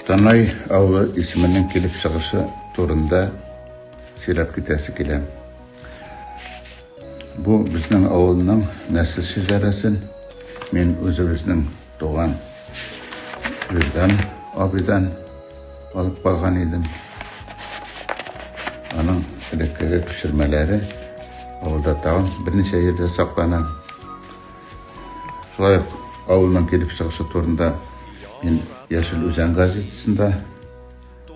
Танай авылы исеменең килеп чыгышы турында сөйләп китәсе килә. Бу безнең авылның нәсел шәҗәрәсен мин үзебезнең туган Виздан абыйдан алып калган идем. Аның элеккеге пешермәләре авылда тагын берничә җирдә саклана. Шулай ук авылның килеп чыгышы турында мин Яшел Үзән газетасында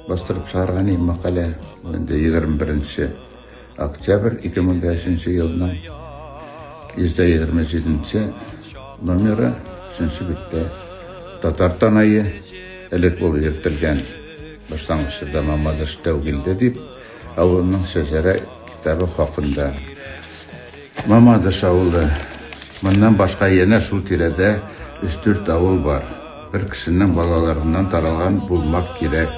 бастырып чыгарган идем мәкалә. Инде 21 октябрь 2005 елның 127 номеры 3 биттә татар танае элек ул йөртелгән башлангычта Мамадыш тәүгилде дип, ә аның шәҗәрә китабы хакында Мамадыш авылы. Моннан башка янә шул тирәдә өч-дүрт авыл бар. Бер кешенең балаларыннан таралган булмак кирәк.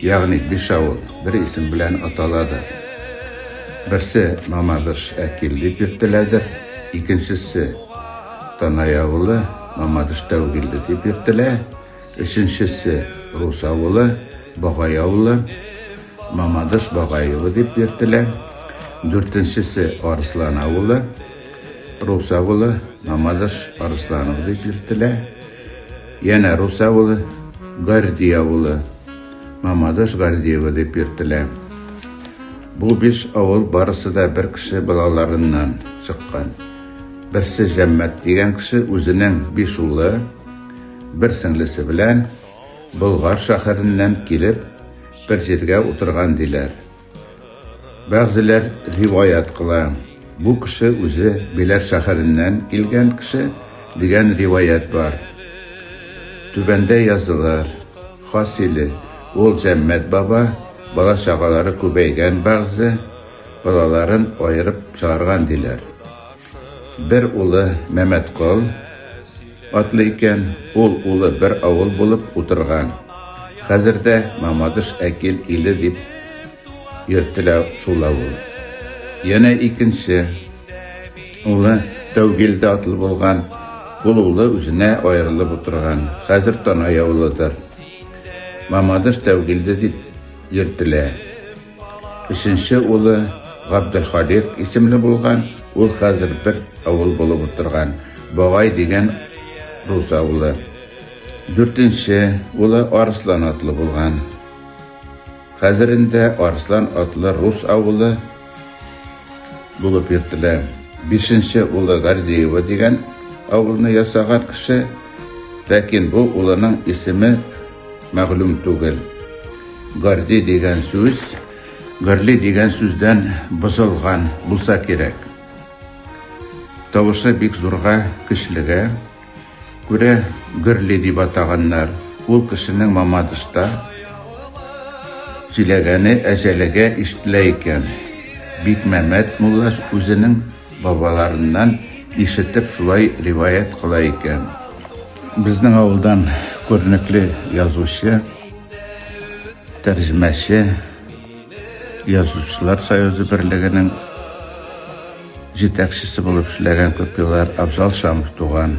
Ягъни биш авыл бер исем белән аталадыр. Берсе Мамадыш Әкил дип йөртеләдер, икенчесе Танай авылы Мамадыш Тәүгиле дип йөртелә. Өченчесе Рус авылы, Багай авылы, Мамадыш Багаевы дип йөртелә. Дүртенчесе Арыслан авылы, Рус авылы, Мамадыш Арысланов дип йөртелә. Янә Рус авылы, Горди авылы, Мамадыш Гордиева дип йөртелә. Бу биш авыл барысы да бер кеше балаларыннан чыккан. Берсе Җәммәт дигән кеше үзенең биш улы, Бер сеңлесе белән Болгар шәһәреннән килеп, бер җиргә утырган, диләр. Бәгъзеләр риваять кыла, бу кеше үзе Беләр шәһәреннән килгән кеше, дигән риваять бар. Түбәндә язылыр. Хасиле, ул Җәммәт баба, бала-чагалары күбәйгән бәгъзе, балаларын аерып чыгарган, диләр. Бер улы Мәмәткол атлы икән, ул улы бер авыл булып утырган. Хәзер дә Мамадыш Әкил иле дип йөртелә шул авыл. Янә икенче улы Тәүгилдә атлы булган, ул улы үзенә аерылып утырган, хәзер Танай авылыдыр. Мамадыш Тәүгилде дип йөртелә. Өченче улы Габделхалик исемле булган, ул хәзер бер авыл булып утырган Багай дигән рус авылы. Дүртенче улы Арслан атлы булган. Хәзер инде Арслан атлы рус авылы булып йөртелә. Бишенче улы Гордеева дигән авылны ясаган кеше, ләкин бу улының исеме Мәгълүм түгел. Гарди дигән сүз, гарли дигән сүздән бозылган булса кирәк. Тавышы бик зурга, көчлегә. Күрә гөрли дип атаганнар. Ул кешенең мамадышта сөйләгәне әҗәлегә ишетелә икән. Бикмәмәт мулла үзенең бабаларыннан ишетеп шулай риваять кыла икән. Безнең авылдан күренекле язучы, тәрҗемәче, язучылар союзы берлегенең җитәкчесе булып эшләгән күп еллар Абзал Шамов туган.